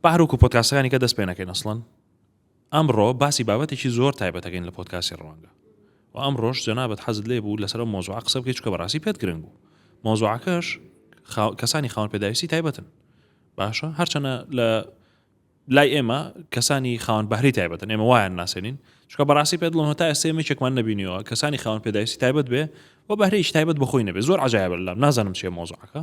بەحر وەکو پۆدکاستەکانی کە دەست پێ نەکەین ئەسڵەن ئەمڕۆ باسی بابەتێکی زۆر تایبەتەکەین لە پۆدکاسی ڕوانگە و ئەمڕۆش جەنابەت حەزت لێ بوو لەسەر مۆزوع قسە بکەی چکە بەڕاستی پێت گرنگ بوو مۆزوعەکەش کەسانی خاون پێداویستی تایبەتن باشە هەرچەنە لە لای ئێمە کەسانی خاون بەهری تایبەتن ئێمە وایان ناسێنین چکە بەڕاستی پێ دڵم هەتا ئێستا مێچێکمان نبینیەوە کەسانی خاون پێداویستی تایبەت بێ و بەهرەیش تایبەت بەخۆی نەبێ زۆر عجاایبلام نازانم چێ مۆزعەکە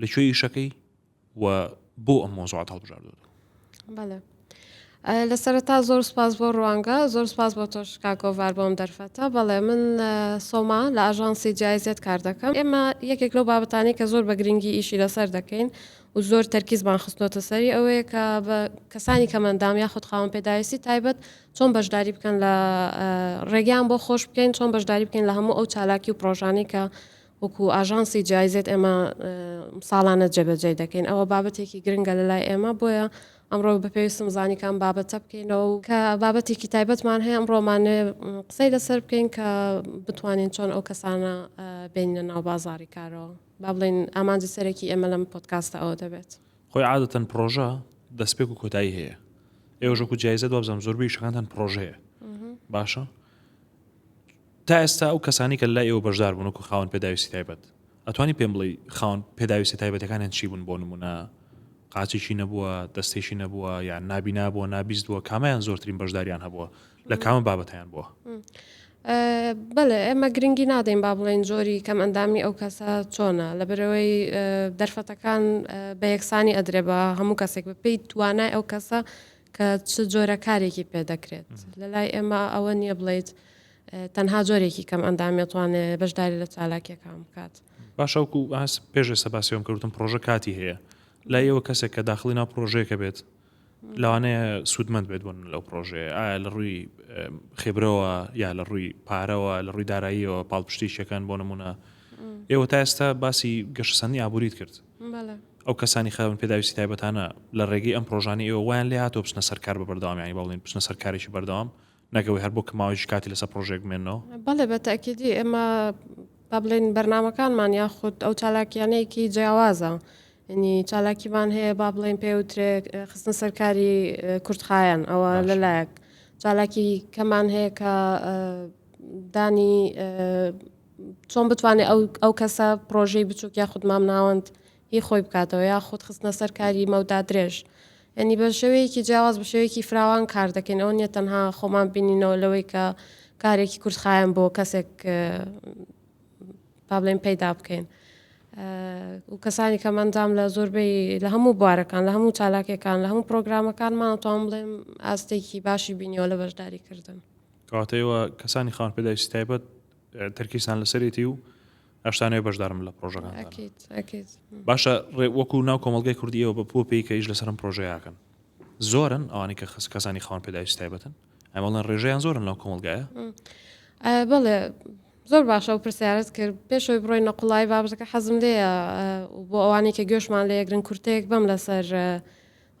لە کوێ یشەکەی و بۆ ئەم مۆزوعات هەڵبژاردۆتەوە لە سەرتا زۆر سپاس بۆ ڕوانگە زۆر سپاس بۆ تۆش کاگۆڤار بۆم دەرفەتە بەڵێ من سۆما لە ئاژانسی جایزێت کار دەکەم ئێمە یەکێک لەو بابەتانی کە زۆر بە گرنگی ئیشی لەسەر دەکەین و زۆر تەرکیزمان خستنەوە سەری ئەوەیە کە بە کەسانی کەمەندام یا خودخاوم پێداویستی تایبەت چۆن بەشداری بکەن لە ڕێگەیان بۆ خۆش بکەین چۆن بەشداری بکەین لە هەموو ئەو چالاکی و پرۆژانەی کە وەکو ئاژانسی جایزێت ئێمە ساڵانە جێبەجێ دەکەین ئەوە بابەتێکی گرنگە لە لای ئێمە بۆیە ئەمڕۆ بە پێویستم زانیکان بابەتە بکەینەوە و کە بابەتێکی تایبەتمان هەیە ئەم ڕۆمانێ قسەی لەسەر بکەین کە بتوانین چۆن ئەو کەسانە بینە ناو بازاری کارەوە با بڵین ئامانجی سەرەکی ئێمە لەم پۆتکاستە ئەوە دەبێت خۆی عادەتەن پرۆژە دەستپێک و کۆتایی هەیە ئێوەژەکو جایزە دوابزانام زۆربەی شەکانتان پرۆژەیە باشە تا ئێستا ئەو کەسانەی کە لای ئێوە بەشدار بوون وەکو خاوەن پێداویستی تایبەت ئەتوانی پێم بڵێی خاوەن پێداویستە تایبەتەکانیان چی بوون بۆ نمونە قاچێکی نەبووە دەستێکی نەبووە یان نابی نابووە نابیست بووە کامیان زۆرترین بەشداریان هەبووە لە کامە بابەتیان بووە بەڵێ ئێمە گرنگی نادەین با بڵێن زۆری کەم ئەندامی ئەو کەسە چۆنە لە برەوەی دەرفەتەکان بە یەکسانی ئەدرێ بە هەموو کەسێک بپی توانای ئەو کەسە کە چ جۆرە کارێکی پێدەکرێت لە لای ئێمە ئەوە نییە بڵیت تەنها جۆرێکی کەم ئەندامی ئەتوانێ بەشداری لە چالاکیەکان بکات. باشە وەکو ئاس پێش ئێستا باسی ئەوم کردم پرۆژە کاتی هەیە لای ئێوە کەسێک کە داخلی ناو پرۆژەیەکە بێت لەوانەیە سوودمەند بێت بوون لەو پرۆژەیە ئایا لە ڕووی خێبرەوە یا لە ڕووی پارەوە لە ڕووی داراییەوە پاڵپشتیشەکان بۆ نمونە ئێوە تا ئێستا باسی گەشتسەنی ئابووریت کرد ئەو کەسانی خاون پێداویستی تایبەتانە لە ڕێگەی ئەم پرۆژانی ئێوە وایان لێ هاتۆ بچنە سەرکار بە بەردەوامیانی بەڵێن بچنە سەرکارێکی بەردەوام نەک ئەوەی هەر بۆ کەماوەیەکی کاتی لەسەر پرۆژێک بمێنەوە؟ بەڵێ بە تاکیدی ئێمە با بڵێن بەرنمەکانمان یاخود ئەو چالاکیانەیەکی جیاوازە ینی چالاکیمان هەیە با بڵێن پێوترێ خستن سەرکاری کورتخایەن ئەوە لەلایەک چالاکی کەمان هەیە کە دانی چۆن بتوانێت ئەو کەسە پرۆژەی بچووک یاخود مام ناوەند هی خۆی بکاتەوە یاخود خستنە سەر کاری مەودا درێژ یانی بە شێوەیەکی جیاواز بە شێوەیەکی فراوان کار دەکەین ئەوە نیە تەنها خۆمان بینینەوە لەوەی کە کارێکی کورتخایەن بۆ کەسێک پابلین پەیدا بکەین و کەسانی کە مندام لە زۆربەی لە هەموو بوارەکان لە هەموو چالاکەکان لە هەموو پرۆگرامەکانمان توان بڵێم ئاستێکی باشی بینیەوە لە بەشداری کردن کاتەوە کەسانی خان پێداویستی تایبەت تەرکیسان لەسەرێتی و هەشتانەوەی بەشدارم لە پرۆژەکان باشە ڕێ وەکو ناو کۆمەلگای کوردی ئەوە بە پۆ پێی کەیش لەسەرم پرۆژەیەکەن زۆرن ئەوانی کە خس کەسانی خاوەن پێداویست تایبەتن ئەمەڵێن ڕێژیان زۆرن ناو کۆمەلگایە بەڵێ زۆر باشە و پرسیارت کرد پێشەوەی بڕۆی نەقلای بابەتەکە حەزم لێە بۆ ئەوانی کە گوێشمان لە یەگرن کورتەیەک بەم لەسەر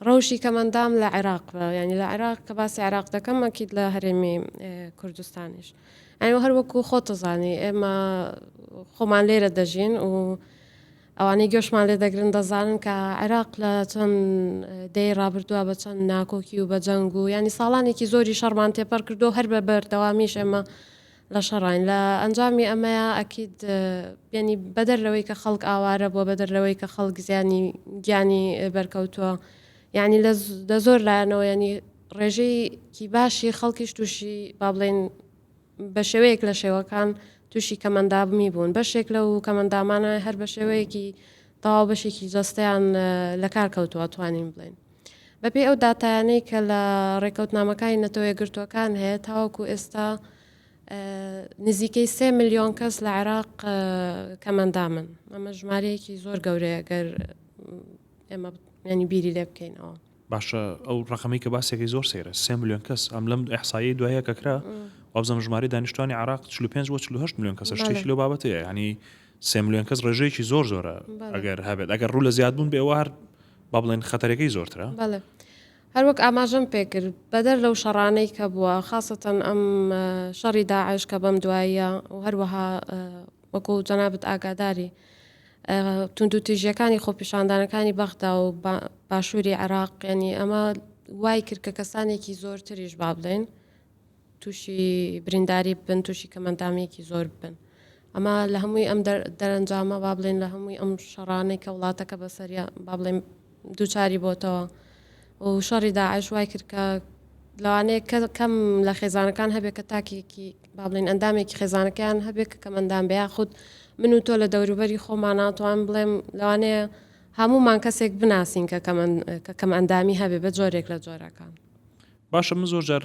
ڕەوشی کەم ئەندام لە عێراق بە یعنی لە عێراق کە باسی عێراق دەکەم ئەکید لە هەرێمی کوردستانیش ئەو هەروەکو خۆتەزانی ئێمە خۆمان لێرە دەژین و ئەوانەی گۆشمان لێ دەگرن دەزانن کە عێراق لە چەند دەی ڕابردووە بە چەند ناکۆکی و بە جەنگ و ینی ساڵانێکی زۆری شەڕمان تێپەر کردو هەر بە بەردەوامیش ئێمە لە شەڕاین لە ئەنجامی ئەمەیە ئەکید یەنی بەدەر لەوەی کە خەڵک ئاوارە بووە بەدەر لەوەی کە خەڵک زیانی گیانی بەرکەوتووە یعنی لە زۆر لایەنەوە ینی ڕێژەیەکی باشی خەڵکیش تووشی با بڵێن بە شێوەیەک لە شێوەکان تووشی کەمەندابمی بوون بەشێک لەو کەمەندامانە هەر بە شێوەیەکی تەواو بەشێکی جەستەیان لە کار کەوتووە توانین بڵێن بەپێی ئەو داتایانەی کە لە ڕێکەوتنامەکانی نەتەوە یەکگرتووەکان هەیە تاوەکو ئێستا نزیکەی سێ ملیۆن کەس لە عێراق کەمەندامن ئەمە ژمارەیەکی زۆر گەورەیە گەر ئێمە ینی بیری لێ بکەینەوە باشە ئەو ڕقەمی کە باسێکی زۆر سێرە سێ ملیۆن کەس ئەم لەم ئەحسایی دوایە کەکرا وابزم ژماری دانیشتوانی عراق 45 بۆ 4 میلیۆن کەسە شتێکی لەو بابەتەیە ینی سێ ملیۆن کەس ڕێژەیەکی زۆر زۆرە ئەگەر هەبێت ئەگەر ڕوو لە زیادبوون بێ ئەوە هەر با بڵێن خەتەرەکەی زۆرترە هەروەک ئاماژەم پێکرد بەدەر لەو شەڕانەی کە بووە خاصەتەن ئەم شەڕی داعش کە بەم دواییە و هەروەها وەکو جەنابەت ئاگاداری تونند و تیژیەکانی خۆپیشاندانەکانی بەغدا و باشووری عراق ینی ئەمە وای کرد کە کەسانێکی زۆرتریش با بدەین تووشی برینداری ببن تووشی کەمەندامیەکی زۆر ببن ئەمە لە هەمووی ئەم دەرەنجامە با بڵێن لە هەمووی ئەم شەڕانەی کە وڵاتەکە بەسەریا با بڵێن دووچاری بۆتەوە و شەڕی داعش وای کرد کە لەوانەیە کە کەم لە خێزانەکان هەبێت کە تاکێکی با بڵێن ئەندامێکی خێزانەکەیان هەبێت کە کەمەندان بە یاخود من و تۆ لە دەوروبەری خۆماناتوان بڵێم لەوانەیە هەمومان کەسێک بناسین کە کە کەم ئەندامی هەبێ بە جۆرێک لە جۆرەکان باشە من زۆر جار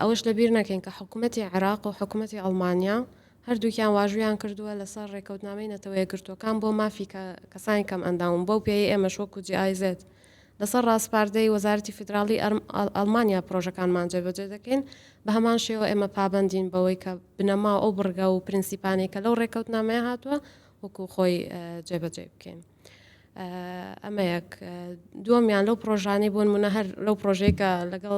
ئەوەش لەبیر نەکەین کە حکوومەتی عێراق و حکوومەتی ئەڵمانیا هەردووکیان واژویان کردووە لەسەر ڕێکەوتنامەی نەتەوەیە گرتوەکان بۆ مافی کەسانی کەم ئەنداون بەو پێی ئێمە شۆک و جیئایزێت لەسەر ڕاستپاردەی وەزارتی فیدراڵی ئەلمانیا پرۆژەکانمان جێبەجێ دەکەین بە هەمان شێوە ئێمە پابندین بەوەی کە بنەما ئەو بڕگا و پرنسیپانەی کە لەو ڕێکەوتنامەیە هاتووە وەکو خۆی جێبەجێ بکەین. ئەمەیەک دووەمیان لەو پرۆژانەی بۆن منە هەر لەو پرۆژێکە لەگەڵ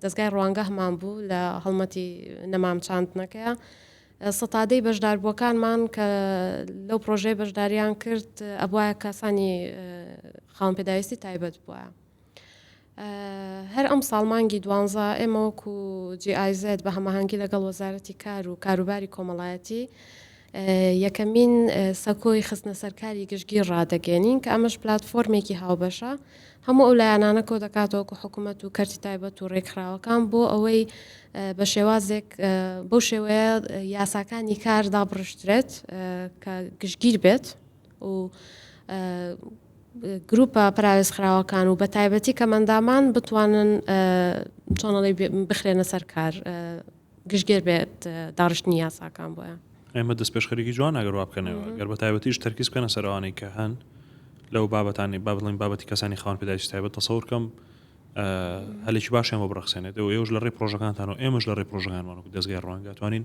دەستگای ڕوانگەهمان بوو لە هەڵمەتی نەمام چاندنەکە سەتادەی بەشداربووەکانمان کە لەو پرۆژەی بەشداریان کرد ئەبواە کەسانی خاون پێداویستی تایبەت بووە هەر ئەمساڵ مانگی دوانزە ئێمە وەکو جی ئای زێد بە هەماهەنگی لەگەڵ وەزارەتی کار و کاروباری کۆمەڵایەتی یەکەمین سەکۆی خستنەسەرکاری گشتگیر ڕادەگەێنین کە ئەمەش پلتفۆرمێکی هاوبەشە هەموو ئەو لایەنانە کۆ دەکاتەوەکو حکوومەت و کەرتی تایبەت و ڕێکخراوەکان بۆ ئەوەی بە شێوازێک بەو شێوەیە یاساکانی کار دابڕشترێت کە گشتگیر بێت و گروپە پەراوێزخراوەکان و بەتایبەتی کەمەندامان بتوانن چۆنڵی بخرێنە سەر کار گشتگێر بێت داڕشتنی یاساکان بۆیان ئێمە دەست پێشخەرێکی جوان ئەگەر وا بکەنەوە گەر بە تایبەتیش تەرکیز بکەنە سەرەوانەی کە هەن لەو بابەتانی با بڵین بابەتی کەسانی خاون پێداویستی تایبەت تەسەور کەم هەلێکی باشیان بۆ بڕەخسێنێت و ئێوش لە ڕێ پرۆژەکانتان و ئێمەش لە ڕێ پرۆژەکانمان و دەستگای ڕوانگاتوانین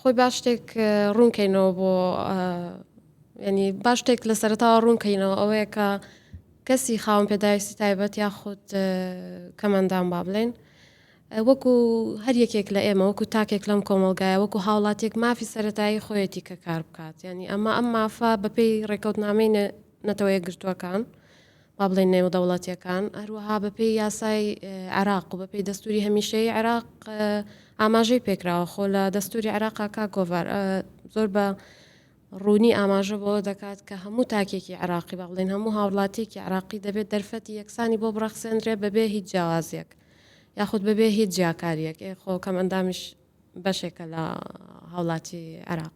خۆی با شتێک ڕوون کەینەوە بۆ ینی با شتێک لە سەرتاوە ڕوون کەینەوە ئەوەیە کە کەسی خاوم پێداویستی تایبەت یا خودت کەمەندان با بڵێن وەکو هەر یەکێک لە ئێمە وەکو تاکێک لەم کۆمەلگایە وەکو هاوڵاتێک مافی سەتایی خۆیەتی کە کار بکات ینی ئەمە ئەم مافە بەپێی ڕێکەوتنامەی نەتەوەیە گرتووەکان با بڵێین نێودەوڵەتیەکان، هەروەها بەپێی یاسای عێراق و بەپێی دەستوری هەمیشەی عێراق ئاماژەی پێکراوە خۆ لە دەستوری عێراقا کا گۆڤار زۆر بە ڕوونی ئاماژە بۆ دەکات کە هەموو تاکێکی عراقی بە بڵێن هەموو هاوڵاتیکی عراقی دەبێت دەرفەتی یەکسانی بۆ بڕەخسێنرێ بەبێ هیچ جیاوازیەک یاخود بەبێ هیچ جیاکاریەک خۆکەم ئەندامیش بەشێکە لە هاوڵاتی عراق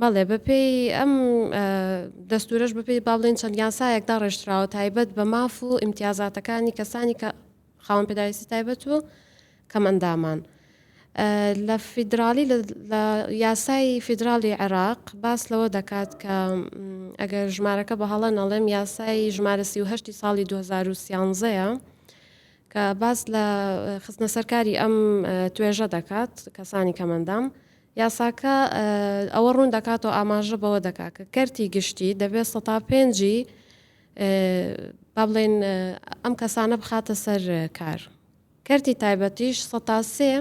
بەڵێ بەپێی ئەم دەستورەش بەپێی با بڵێن چەند یاسایەک دا ڕێژراوە تایبەت بە ماف و ئیمتیازاتەکانی کەسانی کە خاوەن پێداویستی تایبەت و کەمەندامان. لە فیدراالی لە یاسای فیدراالی عێراق باس لەوە دەکات کە ئەگەر ژمارەکە بە هەڵە نەڵێم یاسای ژمارە سیهشتی ساڵی 2013ەیە کە باس لە خستنە سەرکاری ئەم توێژە دەکات کەسانی کەمەندام یاساکە ئەوە ڕوون دەکات و ئاماژە بەوە دەکات کە کەرتی گشتی دەبێت سەتا پێنجی با بڵێن ئەم کەسانە بخاتە سەر کار کەرتی تایبەتیش سەتا سێ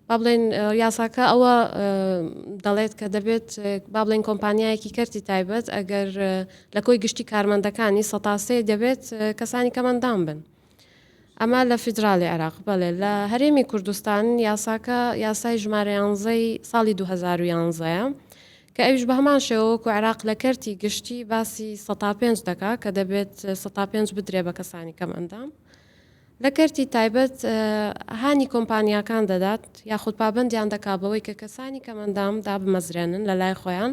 با بڵێن یاساکە ئەوە دەڵێت کە دەبێت با بڵێن کۆمپانیایەکی کەرتی تایبەت ئەگەر لە کۆی گشتی کارمەندەکانی سەتاسێ دەبێت کەسانی کەمەندان بن ئەمە لە فیدراڵی عێراق. بەڵێ لە هەرێمی کوردستان یاساکە یاسای ژمارە یانزەی ساڵی دوو هەزار و یانزە یە کە ئەویش بە هەمان شێوە وەکو عێراق لە کەرتی گشتی باسی سەتا پێنج دەکا کە دەبێت سەتا پێنج بدرێ بە کەسانی کەم ئەندام. لە کەرتی تایبەت هانی کۆمپانیاکان دەدات یاخود پابەندیان دەکا بەوەی کە کەسانی کەم ئەندام دابمەزرێنن لە لای خۆیان.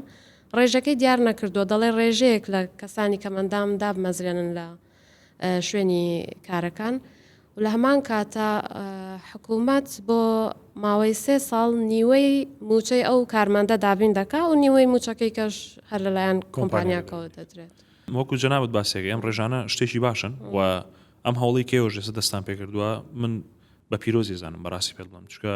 ڕێژەکەی دیار نەکردووە دەڵێ ڕێژەیەک لە کەسانی کەم ئەندام دابمەزرێنن لە. شوێنی کارەکان و لە هەمان کاتە حکوومەت بۆ ماوەی سێ ساڵ نیوەی موچەی ئەو کارمەندە دابین دەکا و نیوەی موچەکەی کەش هەر لەلایەن کۆمپانیاکەەوە دەدرێت وەکو جەنابەت باسێک ئەم ڕێژانە شتێکی باشن و ئەم هەوڵی کێوەژێسە دەستان پێکردووە من بە پیرۆزی زانم بەڕاستی پێ بڵم چکە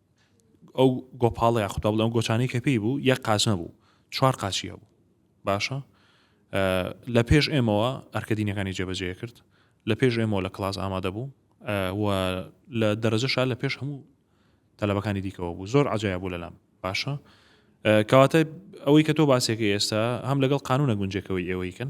ئەو گۆپاڵە یاخود با بڵێم ئەو گۆچانەی کە پێی بوو یەک قاچ نەبوو چوار قاچی هەبوو باشە لە پێش ئێمەوە ئەرکە دینەکانی جێبەجێ کرد لە پێش ئێمەوە لە کلاس ئامادە بوو و لە دەرەجەشا لە پێش هەموو تەلەبەکانی دیکەوە بوو زۆر عجایا بوو لەلام باشە کەواتە ئەوەی کە تۆ باسێکی ئێستا هەم لەگەڵ قانونە گونجێکەوەی ئێوەیکن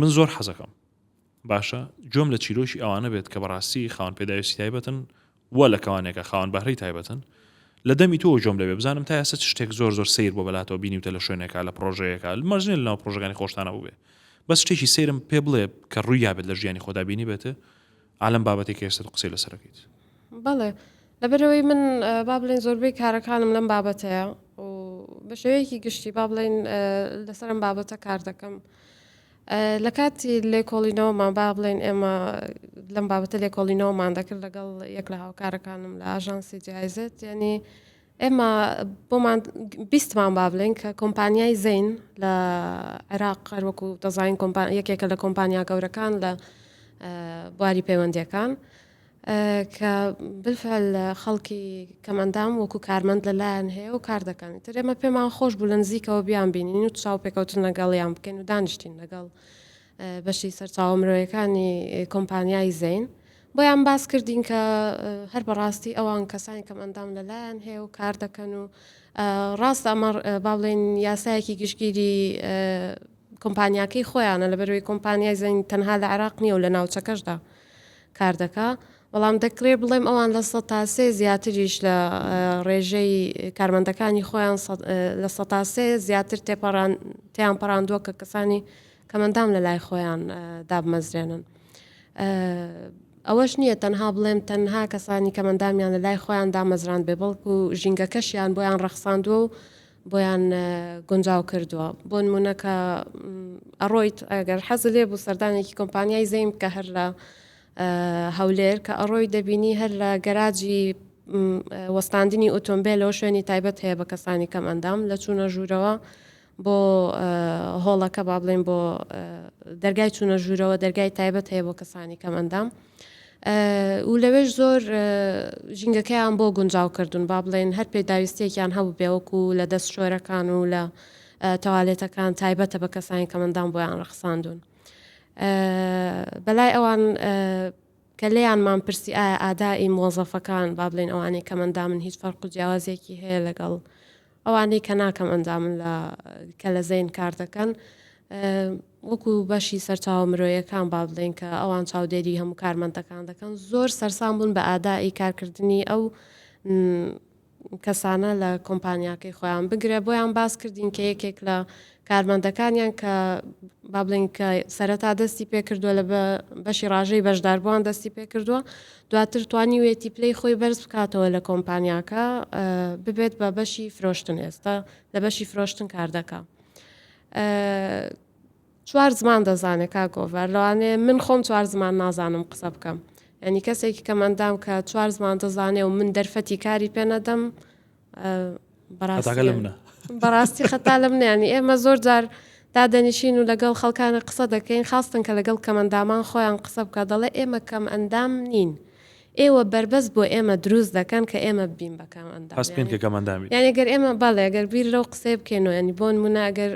من زۆر حەزەکەم باشە گوێم لە چیرۆکی ئەوانە بێت کە بەڕاستی خاوەن پێداویستی تایبەتن و لە کەوانێکە خاوەن بەهرەی تایبەتن لە دەمی تۆ جۆم لەبێ بزانم تا ئێستا شتێک زۆر زۆر سیر بۆ بەلاتەوە بینیوتە لە شوێنێکا لە پرۆژەیەەکە مەرجێ لەناو پرۆژەکانی خۆشتانە بووێ بەس شتێکی سەیرم پێ بڵێ کە ڕوویا بێت لە ژیانی خۆدا بینی بێتێ ئا لەم بابەتەی کە ئێستا تۆ قسەی لەسەر دەکەیت. بەڵێ لەبەرەوەی من با بڵێن زۆربەی کارەکانم لەم بابەتەیە و بە شێوەیەکی گشتی با بڵێن لەسەرم بابەتە کار دەکەم. لە کاتی لێکۆڵینەوەمان با بڵێن ئێمە لەم بابەتە لێکۆڵینەوەمان دەکرد لەگەڵ یەک لە هاوکارەکانم لە ئاژانسی جایزت یعنی ئێمە بۆمان بیستمان با بڵێن کە کۆمپانیای زەین لە عێراق قەروەکو دەزانین یەکێکە لە کۆمپانیا گەورەکان لە بواری پەیوەندیەکان کە بفەل خەڵکی کەمەندام وەکو کارمەند لەلایەن هەیە و کار دەکەن تر ئێمە پێمان خۆش بوو لە نزیکەوە بیان بینین و چاو پێکەوتن لەگەڵیان بکەین و دانیشتین لەگەڵ بەشی سەرچاوە مرۆیەکانی کۆمپانیای زەین بۆیان باس کردین کە هەر بەڕاستی ئەوان کەسانی کەم ئەندام لەلایەن هەیە و کار دەکەن و ڕاست ئەمە با بڵێن یاسایەکی گشتگیری کۆمپانیاکەی خۆیانە لە بەروی کۆمپانیای زەین تەنها لە عراق نییە و لە ناوچەکەشدا کار دەکا بەڵام دەکرێ بڵێم ئەوان لە سە تاسێ زیاتریش لە ڕێژەی کارمەندەکانی خۆیان لە سە تاسێ زیاتر تێپەڕان تیان پەڕاندووە کە کەسانی کە مەندام لە لای خۆیان دابمەزرێنن. ئەوەش نییە تەنها بڵێم تەنها کەسانی کە مەندامیان لە لای خۆیان دامەزراند بێ بەڵکو ژینگەکەشیان بۆیان ڕەخساندووە و بۆیان گونجاو کردووە بۆ نمونونەکە ئەڕۆیت ئەگەر حەز لێ بوو سەردانێکی کۆمپانیای زەیم کە هەر لە هەولێر کە ئەڕۆی دەبینی هەر لە گەراجی وەستاندنی ئۆتۆمبیلەوە شوێنی تایبەت هەیە بە کەسانی کەم ئەندام لە چوونە ژوورەوە بۆ هۆڵەکە با بڵێین بۆ دەرگای چوونە ژوورەوە دەرگای تایبەت هەیە بۆ کەسانی کەم ئەندام و لەوێش زۆر ژینگەکەیان بۆ گونجاو کردوون با بڵێن هەر پێداویستێکیان هەبوو بێوەکو لە دەست شۆرەکان و لە تەوالێتەکان تایبەتە بە کەسانی کەمەندان بۆیان ڕەخساندون بەلای ئەوان کە لێیانمان پرسی ئایا ئادائی موەزەفەکان، با بڵێین ئەوانەی کەم ئەندامن هیچ فەرق و جیاوازیەکی هەیە لەگەڵ ئەوانەی کە نا کەم ئەندامن لە کە لە زەین کار دەکەن وەکو بەشی سەرچاوە مرۆیەکان با بڵێن کە ئەوان چاودێری هەموو کارمەندەکان دەکەن زۆر سەرسان بوون بە ئادائی کارکردنی ئەو کەسانە لە کۆمپانیاکەی خۆیان بگرە بۆیان باس کردین کە یەکێک لە کارمەندەکانیان کە با بڵین کە سەرەتا دەستی پێکردووە لە بەشی ڕژەی بەشداربووان دەستی پێکردووە دواتر توانی وێتی پلەی خۆی بەرز بکاتەوە لە کۆمپانیاکە ببێت بە بەشی فرۆشتن ئێستا لە بەشی فرۆشتن کار دەکە چوار زمان دەزانێ کاک گۆڤار لەوانێ من خۆم چوار زمان نازانم قسە بکەم ینی کەسێکی کە مندام کە چوار زمان دەزانێ و من دەرفەتی کاری پێ نەدەم بەڕاستی خەتا لە منیانی ئێمە زۆر جار دادەنیشین و لەگەڵ خەڵکانە قسە دەکەین خاستن کە لەگەڵ کەمەندامان خۆیان قسە بکە دەڵێ ئێمە کەم ئەندام نین. ئێوە بربەست بۆ ئێمە دروست دەکەن کە ئێمە بین بەکەم ئەندام یعنی گەر ئێمە بەڵێ گەر بیر لەو قسەی بکەین و ینی بۆن منە ئەگەر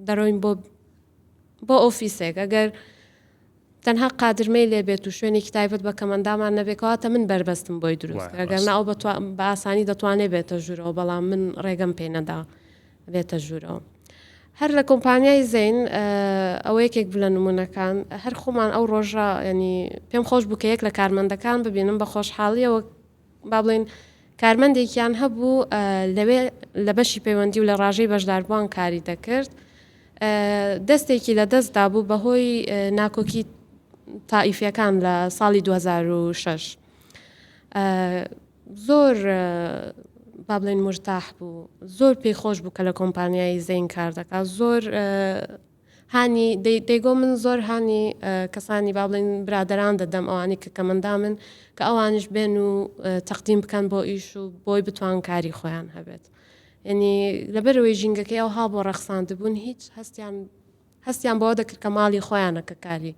دەرۆین بۆ بۆ ئۆفیسێک ئەگەر تەنها قادرمەی لێبێت و شوێنێکی تایبەت بە کەمەندامان نەبێکەواتە من بەربەستم بۆی دروست ئەگەر ناو بە ئاسانی دەتوانێت بێتە ژوورەوە بەڵام من ڕێگەم پێ نەدا بێتە ژوورەوە. هەر لە کۆمپانیای زین ئەوە یەکێک بلە نمونونەکان هەر خۆمان ئەو ڕۆژە ینی پێم خۆش بکە یەک لە کارمەندەکان ببینم بە خۆشحاڵیەوە با بڵێین کارمەندێکیان هەبوو لەوێ لە بەشی پەیوەندی و لە ڕاژەی بەشداربووان کاری دەکرد دەستێکی لە دەستدا بوو بەهۆی ناکۆکی تائیفەکان لە ساڵی 2006 زۆر با بڵێن مرتاح بوو زۆر پێی خۆش بوو کە لە کۆمپانیایی زەین کار دەکات زۆر هانی دەی دەیگۆ من زۆر هانی کەسانی با بڵێن برادەران دەدەم ئەوانی کە کەمەندامن کە ئەوانش بێن و تەقدیم بکەن بۆ ئیش و بۆی بتوان کاری خۆیان هەبێت یعنی لەبەرەوەی ژینگەکەی ئەو ها بۆ ڕەخساند بوون هیچ هەستیان هەستیان بەوە دەکرد کە ماڵی خۆیانە کە کاری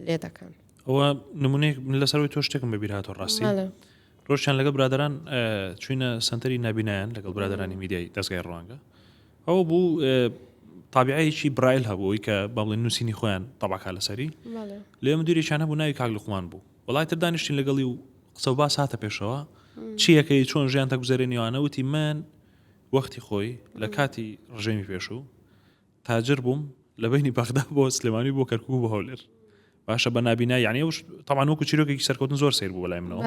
لێ دەکەن ئەوە نمونەیەک لەسەرەوەی تۆ شتێکم بەبیرهاتۆ ڕاستی ڕۆژیان لەگەڵ برادەران چوینە سەنتەری نابینایان لەگەڵ برادەرانی میدیای دەستگای ڕوانگە ئەوە بوو تابعەیەکی برایل هەبووی کە بەڵێ نووسینی خۆیان تەباکە لەسەری لێ مدیرێکیان هەبوو ناوی کاک لقمان بوو وڵای تر دانیشتین لەگەڵی و قسە و باس هاتە پێشەوە چیەکەی چۆن ژیان تەگوزەرێنیوانەوتی من وەختی خۆی لە کاتی ڕژێمی پێشوو تاجر بووم لە بینی بەغدا بۆ سلێمانی بۆ کەرکوو بۆ هەولێر باشە بە نابینا یعنی ئەوش تاوان وەکو چیرۆکێکی سەرکەوتن زۆر سیر بوو بەلای منەوە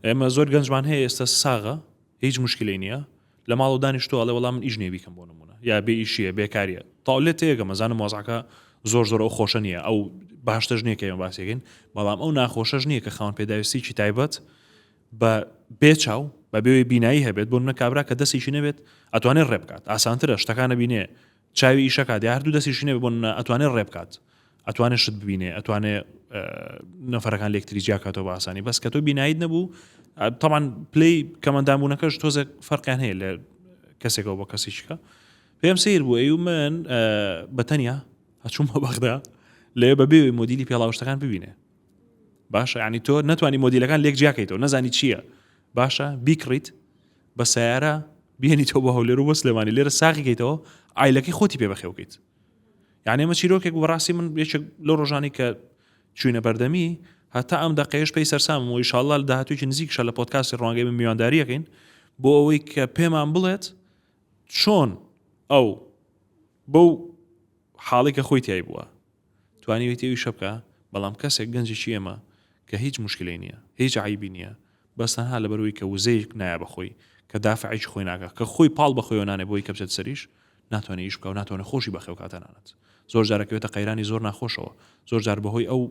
ئێمە زۆر گەنجمان هەیە ئێستا ساغە هیچ مشکلی نییە لە ماڵ و دانیشتۆ ئەڵێ وەڵام من ئیش نێبیکەم بۆ نمونە یا بێ ئیشیە بێکاریە تاولێت تێگە مەزانم مۆزعکە زۆر زۆر ئەو خۆشە نییە ئەو باشتەش نییە کە ئێمە باسیگەین بەڵام ئەو ناخۆشەش نییە کە خاون پێداویستیی تایبەت بە بێ چاو بە بێوەی بینایی هەبێت بۆ منە کابرا کە دەستێکی نەبێت ئەتوانێت ڕێ بکات ئاسانترە شتەکانە بینێ چاوی ئیشەکە دی هەردوو دەستیشی نەبێت بۆ منە ئەتوانێت ڕێ بکات ئەتوانێت شت ببینێ ئەتوانێ نەفرەکان لەکتری جیاکاتەوە بە ئاسانی بەس کە تۆ بینایت نەبوو تاوان پلی کەمەندامبوونەکەش تۆزە فەرقیان هەیە لە کەسێکەوە بە کەسیشکە پێم سیر بوو ئەو من بەتەنیا هەچوومە بەغدا لێ بەبێ مدیلی پێڵاوشتەکان ببینێ باشە یعنی تۆ نەتوانی مۆدیلەکان لێک جیاکەیتەوە نەزانی چییە باشە بیکڕیت بە سیارە بێنیتەوە بە هەولێر و بۆ سلێمانی لێرە ساغیکەیتەوە ئایلەکەی خۆتی پێ بەخێوکەیت یعنی ئمە چیرۆکێک بەڕاستی من یەکێک لە ڕۆژانی کە چوینە بەردەمی هەتا ئەم دەقێش پێی سەرسام و ئیشاءله لە داهاتوێکی نزیکشە لە پۆتکاسی ڕوانگەی من میوانداریەکەین بۆ ئەوەی کە پێمان بڵێت چۆن ئەو بەو حاڵی کە خۆی تای بووە توانیویت ئەویشە بکا بەڵام کەسێک گەنجێکی ئێمە کە هیچ موشکیلەی نیە هیچ عەیبی نیە بەس تەنها لەبەرئەوەی کە وزەیەک نایە بەخۆی کە دافعێکی خۆی ناکا کە خۆی پاڵ بەخۆیەوە نانێ بۆی کە بچێتە سەریش ناتوانێ ئیش بکاو ناتوانێ خۆشی بەخێو کا تەنانەت زۆر جار ئەکەوێتە قەیرانی زۆر ناخۆشەوە زۆر جار بەهۆی ئەو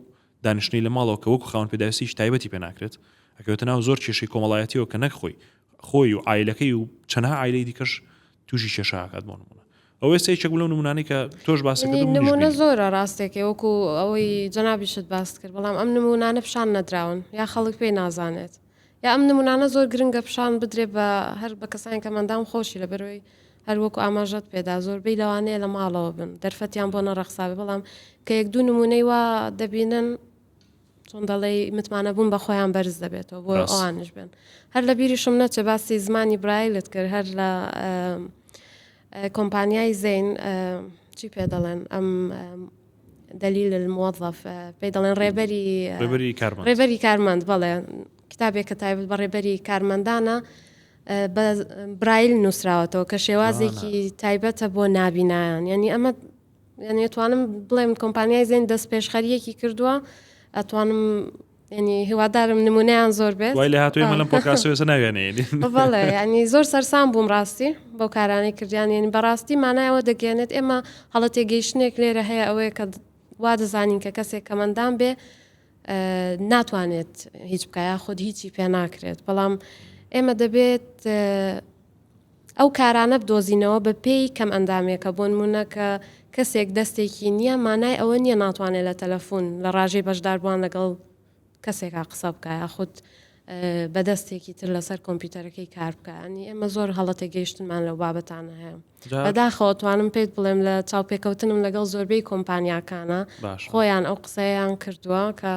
دانیشتنەی لە ماڵەوە کە وەکو خاوەن پێداویستیەکی تایبەتی پێ ناکرێت ئەکەوێتە ناو زۆر کێشەی کۆمەڵایەتیەوە کە نەک خۆی خۆی و عایلەکەی و چەنها عایلەی دیکەش توشی کێشە ئاکات بۆ نمونە ئەوە ئێستا یەکێک بوو لەو نموونانەی کە تۆش باست کرد و منیش نموونە بینیم. زۆرە ڕاستێکێ وەکو ئەوەی جەنابیشت باست کرد بەڵام ئەم نموونانە پیشان نەدراون یا خەڵک پێی نازانێت یا ئەم نموونانە زۆر گرنگە پیشان بدرێت بە هەر بە کەسانی کە مندام خۆشی لە بەرۆی هەر وەکو ئاماژەت پێدا زۆربەی لەوانەیە لە ماڵەوە بن دەرفەتیان بۆ نەڕەخساوی بەڵام کە یەک دوو نموونەی وا دەبینن چۆن دەڵێی متمانە بوون بە خۆیان بەرز دەبێتەوە بۆ ڕاست. ئەوانش بێن هەر لە بیریشم نەچێ باسی زمانی برایلت کرد هەر لە ئەم، ئە، کۆمپانیای زەین ئە، چی پێ دەڵێن ئەم ئە، دەلیل الموظف ئە، پێی دەڵێن ڕێبەری ئە، ڕێبەری کارمەند ڕێبەری کارمەند بەڵێ کتابێک کە تایبەت بە ڕێبەری کارمەندانە ئە، بە برایل نووسراوەتەوە کە شێوازێکی تایبەتە بۆ نابینایان یانی ئەمە یعنی توانم بڵێم کۆمپانیای زین دەست پێشخەریەکی کردووە ئەتوانم ینی هیوادارم نمونیان زۆر بێت وای لە هاتوی منم پۆکاسێسە ناوێنێنی بەڵێ ینی زۆر سەرسان بووم ڕاستی بەو کارانەی کردیان ینی بەڕاستی مانایەوە دەگەێنێت ئێمە هەڵە تێگەیشتنێک لێرە هەیە ئەوەیە کە وا دەزانین کە کەسێک کەمەندان بێ ناتوانێت هیچ بکە یاخود هیچی پێ ناکرێت بەڵام ئێمە دەبێت ئەو کارانە بدۆزینەوە بە پێی کەم ئەندامێکە بۆن مونەکە کەسێک دەستێکی نییە مانای ئەوە نییە ناتوانێت لە تەلەفۆن لە ڕژەی بەشداربووان لەگەڵ کەسێکا قسە بکە یاخود بە دەستێکی تر لەسەر کۆمپیوتەرەکەی کار بکە ئەنی ئێمە زۆر هەڵەتێک گەیشتنمان لەو بابەتانە هەیە بەداخەوە توانم پێیت بڵێم لە چاوپێکەوتنم لەگەڵ زۆربەی کۆمپانیاکانە خۆیان ئەو قسەیان کردووە کە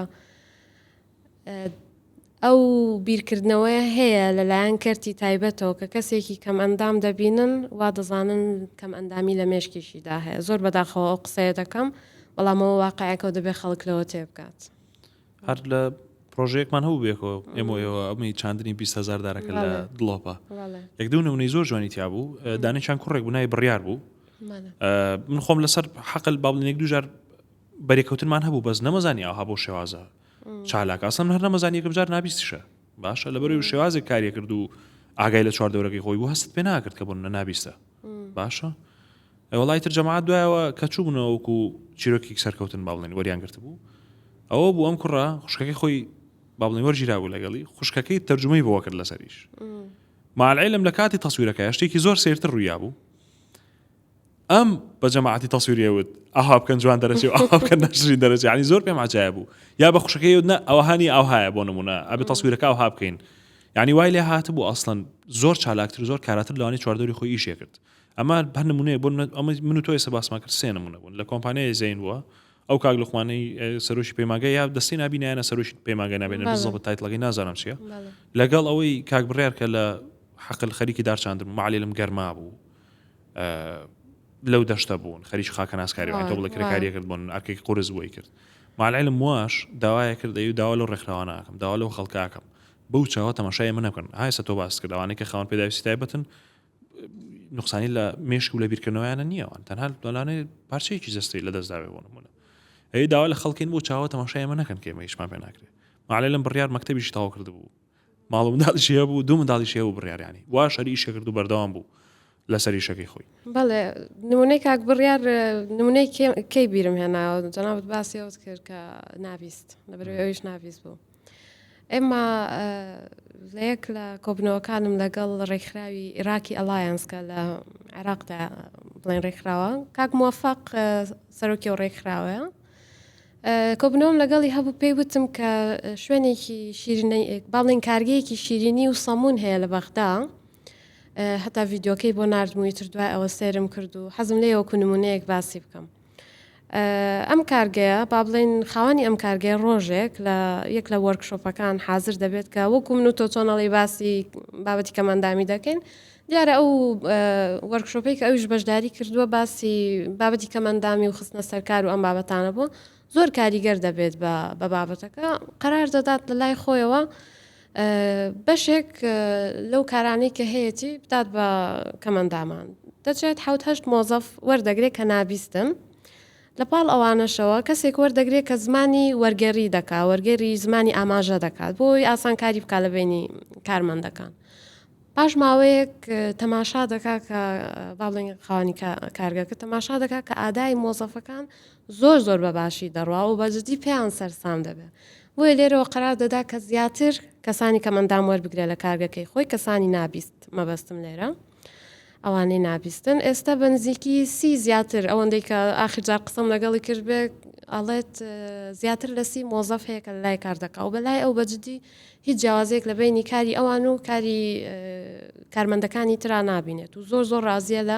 ئەو بیرکردنەوەی هەیە لەلایەن کەرتی تایبەتەوە کە کەسێکی کەم ئەندام دەبینن وا دەزانن کەم ئەندامی لە مێشکیشیدا هەیە زۆر بەداخەوە ئەو قسەیە دەکەم بەڵامەوە واقعەکەەوە دەبێت خەڵک لەوە تێ بکات هەر لە پرۆژەیەکمان هەبوو بێکەوە ئێمە ئێوە ئەمەی چاندنی 20 هزار دارەکە لە دڵۆپە یەک دوو نمونەی زۆر جوانی تیا بوو دانیشان کوڕێک بنای بڕیار بوو من خۆم لەسەر حەقل باڵنێک دوژار بەرێکەوتنمان هەبوو بەس نەمەزانی ئاها بۆ شێوازە چالاک ئاسم هەر نەمەزان یەکم جار نابیستشە باشە لەبەر شێوازێک کاریە کرد و ئاگای لە چوار دەورەکەی خۆی بوو هەست پێ ناکرد کە بوون نە نابیستە باشە ئە وڵی تر جەماعات دوایەوە کە چوو بنەوەکو چیرۆکی سەرکەوتن باڵێن وەریان گرت بوو ئەوە بوو ئەم کوڕە خوشکەکەی خۆی باڵێن وەرگیرا بوو لەگەڵی خوشکەکەی تەرجمەی بۆ کرد لەسەریش مالعلم لە کاتی تەسویرەکە شتێکی زۆر سێرتر ڕوویا بوو ئەم بە جەماعتی تەسویریەوت ئاها بکەن جوان دەرەێ ئاکەن ناشری دەرەێ ینی زۆر پێم عجاە بوو یا بە خوشکەکەی نا ئەوهانی ئەوهایە بۆ نمونە ئەبێ تەسویرەکە ئەوها بکەین یانی وای لێ هاتبوو ئەسڵەن زۆر چالاکتر و زۆر کاراتر لەوانی چواردەوری خۆی ئیشێ کرد ئەمە هەر نمونەیە بۆ نمونە- ئەمە من و تۆ ئێستا باسمان کرد سێ نمونە بوون لە کۆمپانیای زەین بووە ئەو کاک لوقمانەی ئە، سەرۆکی پەیمانگای یا دەستەی نابینایانە سەرۆکی پەیمانگای نابێنە بەڵێ. بزەبە تایتڵەکەی نازانم چییە بەڵێ لەگەڵ ئەوەی کاک بڕیار کە لە حەقل خەریکی دارچاندن بوو معلێ لەم گەرما بوو ئە، لەو دەشتە بوون خەریکی خاکە ناسکاری وای، تۆ بڵێ وای. کرێکاریە کرد بۆن ئەرکێکی قورس بۆی کرد مالعلم واش داوایە کرد ئەی داوا لەو ڕێکخراوانە ئەکەم داوا لەو خەڵکە ئەکەم بەو چاوە تەماشای ئێمە نەکەن ئای سە تۆ باست کرد ئەوانەی کە خاوەن پێداویستی تایبەتن نقصانی لە مێشک و لە بیرکردنەوەیانە نییەوان تەنها دۆلانێ پارچەیەکی جستی لە دەستداوێ بۆ نمونە ئەی داوا لە خەڵکین بۆ چاوە تەماشای ئێمە نەکەن کە ئێمە هیچمان پێ ناکرێت ماعلێ لەم بڕیار مەکتتەبیش تاو کرد بوو ماڵ منداڵیشەیە بوو دوو منداڵیشەیە بوو بڕیاریانی وا شەریشە کرد و بەردەوام بوو لەسەر ئیشەکەی خۆی بەڵێ نمونەی کاک بڕیار نمونەی کەی بیرم هێناوە جەنابەت باسی ئەوت کرد کە ناویست لەبەرەوەی ئەویش ناویست بوو ئێمە لە یەک لە کۆبنەوەکانم لەگەڵ ڕێکخراوی عێراکی ئەلایەنسکە لە عێراقدا بڵێن ڕێکخراوە کاک موفق سەرۆکی و ڕێکخراوە کۆبنەوەم لەگەڵی هەبوو پێی وتم کە شوێنێکی شیرینەی باڵین کارگەیەکی شیرینی و سەمون هەیە لە بەغدا هەتا ڤیدۆکەی بۆ نردموی تر دوای ئەوە سێرم کرد و حەزم لێ وەکو نمونەیەک باسی بکەم ئەم کارگەیە با بڵین خاوەنی ئەم کارگەیە ڕۆژێک لە یەک لە وەرکشۆپەکان حاضر دەبێت کە وەکو من و تۆ چۆنەڵی باسی بابەتی کەماندامی دەکەین دیارە ئەو وەرکشۆپی کە ئەوش بەشداری کردووە باسی بابەتی کەماندامی و خستنە سەرکار و ئەم بابەتانە بوو زۆر کاریگەر دەبێت بە بە بابەتەکە قەرار دەدات لە لای خۆیەوە بەشێک لەو کارانەی کە هەیەی بدات بە کەمەندامان دەچێت حوتهشت مۆزەف وەردەگرێت کە نابیستن لە پاڵ ئەوانەشەوە کەسێک وەردەگرێت کە زمانی وەرگێری دەکا وەرگێری زمانی ئاماژە دەکات بۆی ئاسانکاری بکە لە بینی کارمەندەکان پاش ماوەیەک تەماشا دەکا کە باڵێن خانی کارگەکە تەماشا دەکا کە ئادای مۆزەفەکان زۆر زۆر بە باشی دەڕوا و بە جدی پێیان سەرسام دەبێ. بۆیە لێرەوە قەرار دەدا کە زیاتر کەسانی کەم ئەندام وەربگرێ لە کارگەکەی خۆی کەسانی نابیست مەبەستم لێرە ئەوانەی نابیستن ئێستا بە نزیکی سی زیاتر ئەوەندەی کە ئاخر جار قسەم لەگەڵی کرد بێ ئەڵێت زیاتر لە سی مۆزەف هەیە کە لای کار دەکا و بەلای ئەو بەجددی هیچ جیاوازێک لە بینی کاری ئەوان و کاری کارمەندەکانی ترا نبینێت و زۆر زۆر ڕازیە لە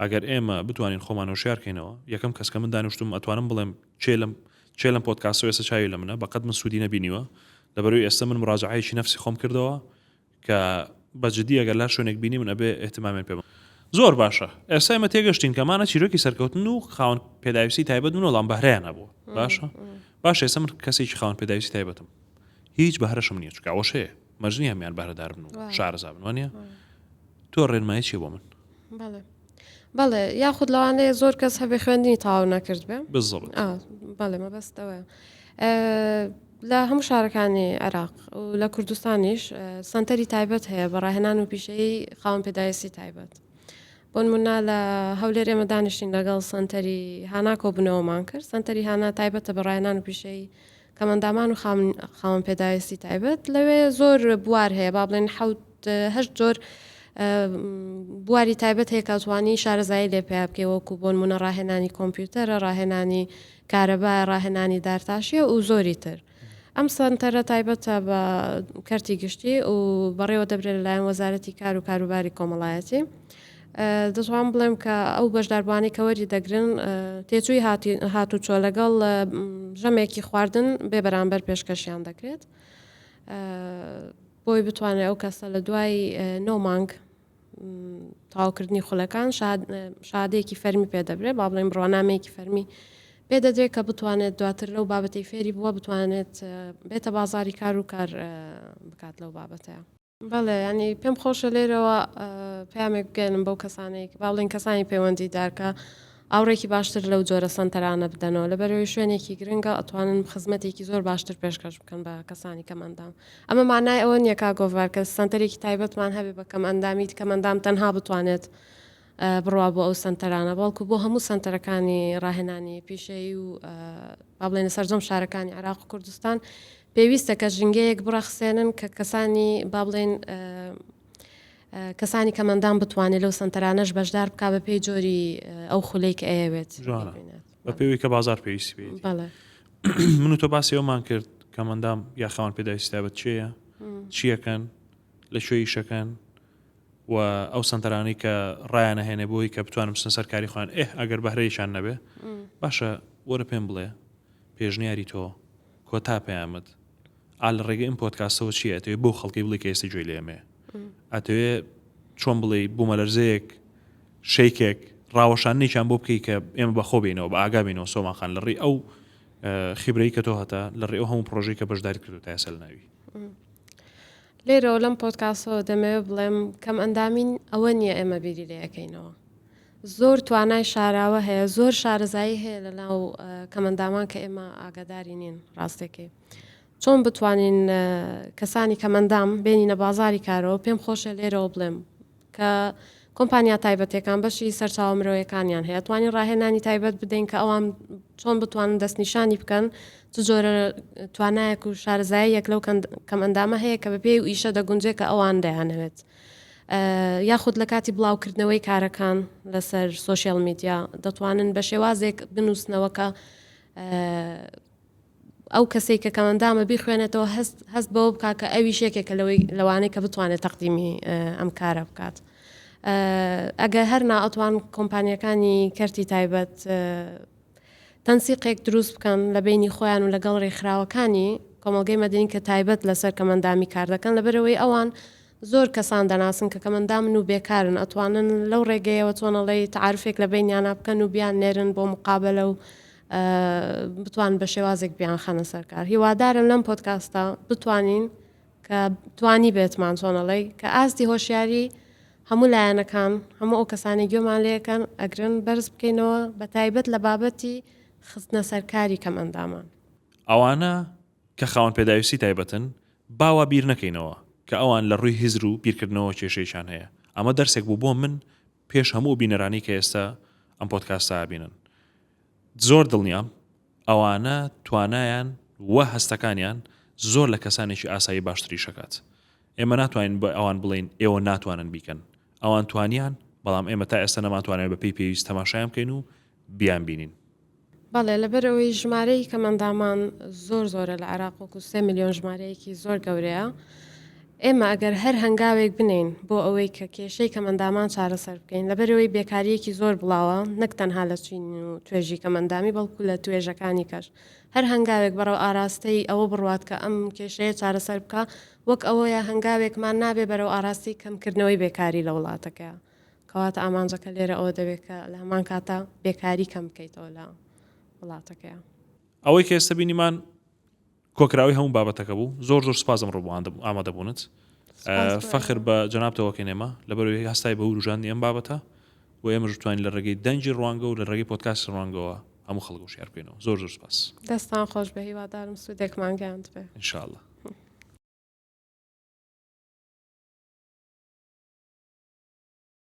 ئەگەر ئێمە بتوانین خۆمان هۆشیار کەینەوە، یەکەم کەس کە من دانیشتووم ئەتوانم بڵێم کێ لەم کێ لەم پۆدکاستەوە ئێستا چاوی لە منە، بەقەد من سوودی نەبینیوە، لەبەروی ئێستا من مراجەعەیەکی نەفسی خۆم کردەوە کە بە جدی ئەگەر لە شوێنێک بینیمن ئەبێ ئیهتمامیان پێ بم. زۆر باشە ئێستا ئێمە تێگەشتین کە مانە چیرۆکی سەرکەوتن و خاوەن پێداویستی تایبەت بوون وەڵام بەهرەیان هەبووە باشە باشە ئێستا من کەسێکی خاوەن پێداویستی تایبەتم هیچ بەهرەشم نییە چکاوەشەیە مەرجنی هەمیان بەهرەدار بن و شارەزا بنوانە تۆ ڕێنمای چێ بۆ من بەڵێ یاخود لەوانەیە زۆر کەس هەبێ خوێندنی تاو نەکرد بێ بەڵێ مەبەستەوە لە هەموو شارەکانی عێراق و لە کوردستانیش سنتەری تایبەت هەیە بە ڕاهێنان و پیشەی خاوەن پێدایستی تایبەت بۆن منا لە هەولێر ئێمە دانیشتین لەگەڵ سنتەری هانا کۆبنەوەمان کرد سنتەری هانا تایبەتە بە ڕایەنان و پیشەی کەمئەندامان و خاوەن پێداویستی تایبەت لەوێ زۆر بوار هەیە با بڵێن حوت هەشت جۆر بواری تایبەت هەیە کاتوانی شارەزایی لێ پێ بکەی وەکو بۆن منە ڕاهێنانی کۆمپیوتەرە ڕاهێنانی کارەبا ڕاهێنانی دارتاشیە و زۆری تر ئەم سەنتەرە تایبەتە بە کەرتی گشتی و بەڕێوە دەبرێت لەلایەن وەزارەتی کار و کاروباری کۆمەڵایەتی دەتوانم بڵێم کە ئەو بەشداربووانەی کە وەری دەگرن تێچووی هاتوچۆ لەگەڵ ژەمێکی خواردن بێ بەرامبەر پێشکەشیان دەکرێت بۆی بتوانێت ئەو کەسە لە دوای نۆ مانگ تاوکردنی خولەکان شادەیەکی فەرمی پێدەبرێ با بڵێن بڕوانامەیەکی فەرمی پێدەدرێت کە بتوانێت دواتر لەو بابەتی فێری بووە بتوانێت بێتە بازاری کار و کار بکات لەو بابەتەیە بەڵێ یانی پێم خۆشە لێرەوە پامێک بگەێنم بەو کەسانەی کە باڵین کەسانی پەیوەندی دارکە ئاوڕێکی باشتر لەو جۆرە سەنتەرانە بدەنەوە لە بەرەوەی شوێنێکی گرنگە ئەتوانن خزمەتێکی زۆر باشتر پێشکەش بکەن بە کەسانی کەمەندام ئەمە مانای ئەوە نیەکە گۆڤارکە سەنتەرێکی تایبەتمان هەبێ بە کەم ئەندامیت کەمەندام تەنها بتوانێت بڕوا بۆ ئەو سەنتەرانە بەڵکو بۆ هەموو سەنتەرەکانی ڕاهێنانی پیشەیی و با بڵێنە سەرجەم شارەکانی عراق و کوردستان پێویستە کە ژینگەیەک بڕەخسێنن کە کەسانی با بڵێن کەسانی کەمەندان بتوانێت لەو سنتەرانەش بەشدار بک بە پێی جۆری ئەو خولەی کە ئەیەوێت بە پێوی کە بازار پێویستی بێت من و تۆ باسی ئەومان کرد کەمەندام یاخەوان پێداویستابەت چێە چیەکەن لە شوێ یشەکەن و ئەو سەنتەرانەی کە ڕایانە هێنێ بۆی کە بتوانم بچنە سەر کاری خۆیان ئه ئەگەر بەهرەیشان نەبێ باشە وەرە پێم بڵێ پێشنیاری تۆ کۆتا پەیامت ئا لە ڕێگە ئەم پۆتکاسەوە چیە ئەتەوێ بۆ خەڵکی بڵی کە ئێستی جوێ لێمێ ئەتەوێ چۆن بڵێ بوومەلەرزەیەک شەیکێک ڕاوەشانێکیان بۆ بکەی کە ئێمە بەخۆ بینەوە بە ئاگابینەوە سۆماخان لە ڕێ ئەو خیبرەی کە تۆ هەتا لە ڕێ ئەو هەموو پرۆژەی کە بەشداری کردو تاسەل ناوی لێرەوە لەم پۆتکاسەوە دەمەوێت بڵێم کەم ئەندامین ئەوە نییە ئێمە بیری لەکەینەوە زۆر توانای شاراوە هەیە زۆر شارەزایی هەیە لە ناو کەمەندامان کە ئێمە ئاگاداری نین ڕاستێکی چۆن بتوانین کەسانی کەمەندام بینینە بازاری کارەوە پێم خۆشە لێرەوە بڵێم کە کۆمپانیا تایبەتەکان بەشی سەرچاوە مرۆیەکانیان هەیە توانین ڕاهێنانی تایبەت بدەین کە ئەوان چۆن بتوانن دەستنیشانی بکەن چ جۆرە توانایەک و شارزای یەک لەو کەم ئەندامە هەیە کە بە پێی و ئیشە دەگونجێ کە ئەوان دەیانەوێت یاخود لە کاتی بڵاوکردنەوەی کارەکان لەسەر سوۆسیال میدیا دەتوانن بە شێوازێک بنووسنەوەکە ئەو کەسەی کە کەمەندامە بیخوێنێتەوە هەست هەست بەوە بکات کە ئەویش یەکێکە لەوەی لەوانەی کە بتوانێت تەقدیمی ئەم کارە بکات. ئەگەر هەر ناوتوان کۆمپانیەکانی کەرتی تایبەت تەنسیقێک دروست بکەن لە بینی خۆیان و لەگەڵ ڕێکخراوەکانی کۆمەلگەی مەدنین کە تایبەت لەسەر کەمەندامی کار دەکەن لەبەرەوەی ئەوان زۆر کەسان دەناسن کە کەمەندامن و بێکارن ئەتوانن لەو ڕێگەیەوە چۆنەڵی تعاعرفێک لە بینیانە بکەن و بیان نێرن بۆ مقابلە و بتوان بە شێوازێک بیان خەنە سەرکار هیوادارم لەم پۆتکاستە بتوانین کە توانی بێتمان چۆنەڵی کە ئاستی هۆشیاری هەموو لایەنەکان هەموو ئەو کەسانی گوێمان لەکەن ئەگرن بەرز بکەینەوە بە تایبەت لە بابەتی خستنە سەرکاری کەم ئەندامان ئەوانە کە خاون پێداویستی تایبەتن باوا بیر نەکەینەوە کە ئەوان لە ڕووی هزر و بیرکردنەوە کێشەیشان هەیە ئەمە دەرسێک بوو بۆ من پێش هەموو ئەو بینەرانەی کە ئێستا ئەم پۆدکاستە ئەبینن زۆر دڵنیام ئەوانە توانایان و هەستەکانیان زۆر لە کەسانێکی ئاسایی باشتری شکات ئێمە ناتوانین بە ئەوان بڵین ئێوە ناتوانن بیکەن ئەوان توانیان بەڵام ئێمە تا ئێستا نەمانتوانێت بە پێی پێویست تەماشایان بکەین و بیان بینین بەڵێ، لەبەرئەوەی ژمارەی کەم ئەندامان زۆر زۆرە لە عێراق وەکو سێ ملیۆن ژمارەیەکی زۆر گەورەیە. ئێمە ئەگەر هەر هەنگاوێک بنێین بۆ ئەوەی کە کێشەی کەم ئەندامان چارەسەر بکەین، لەبەرئەوەی بێکارییەکی زۆر بڵاوە نەک تەنها لە چین و توێژی کەم ئەندامی بەڵکو لە توێژەکانی کەش هەر هەنگاوێک بەڕێو ئاراستەی ئەوە بڕوات کە ئەم کێشەیە چارەسەر بکا وەک ئەوەیە هەنگاوێکمان نابێ بەرەو ئاراستەی کەمکردنەوەی بێکاری لە وڵاتەکەیا کەواتە ئامانجەکە لێرە ئەوە دەبێت کە لە هەمان کاتدا بێکاری کەم بکەیتەوە لە وڵاتەکەیان. ئەوەی کە ئێستە بینیمان کۆکراوی هەموو بابەتەکە بوو زۆر زۆر سپاس ئەمڕۆ بۆ ئامادەبوونت فەخر بە جەناب تەوەکەی نێمە لەبەرەوەی هەستای بە وروژاندنی ئەم بابەتە و ئێمەش بتوانین لە ڕێگەی دەنگی ڕوانگە و لە ڕێگەی پۆتکاسی ڕوانگەوە هەموو خەڵک و شارکەینەوە زۆر زۆر سپاس دەستان خۆش بە هیوادارم سوودێکمان گەاند بێ انشاءله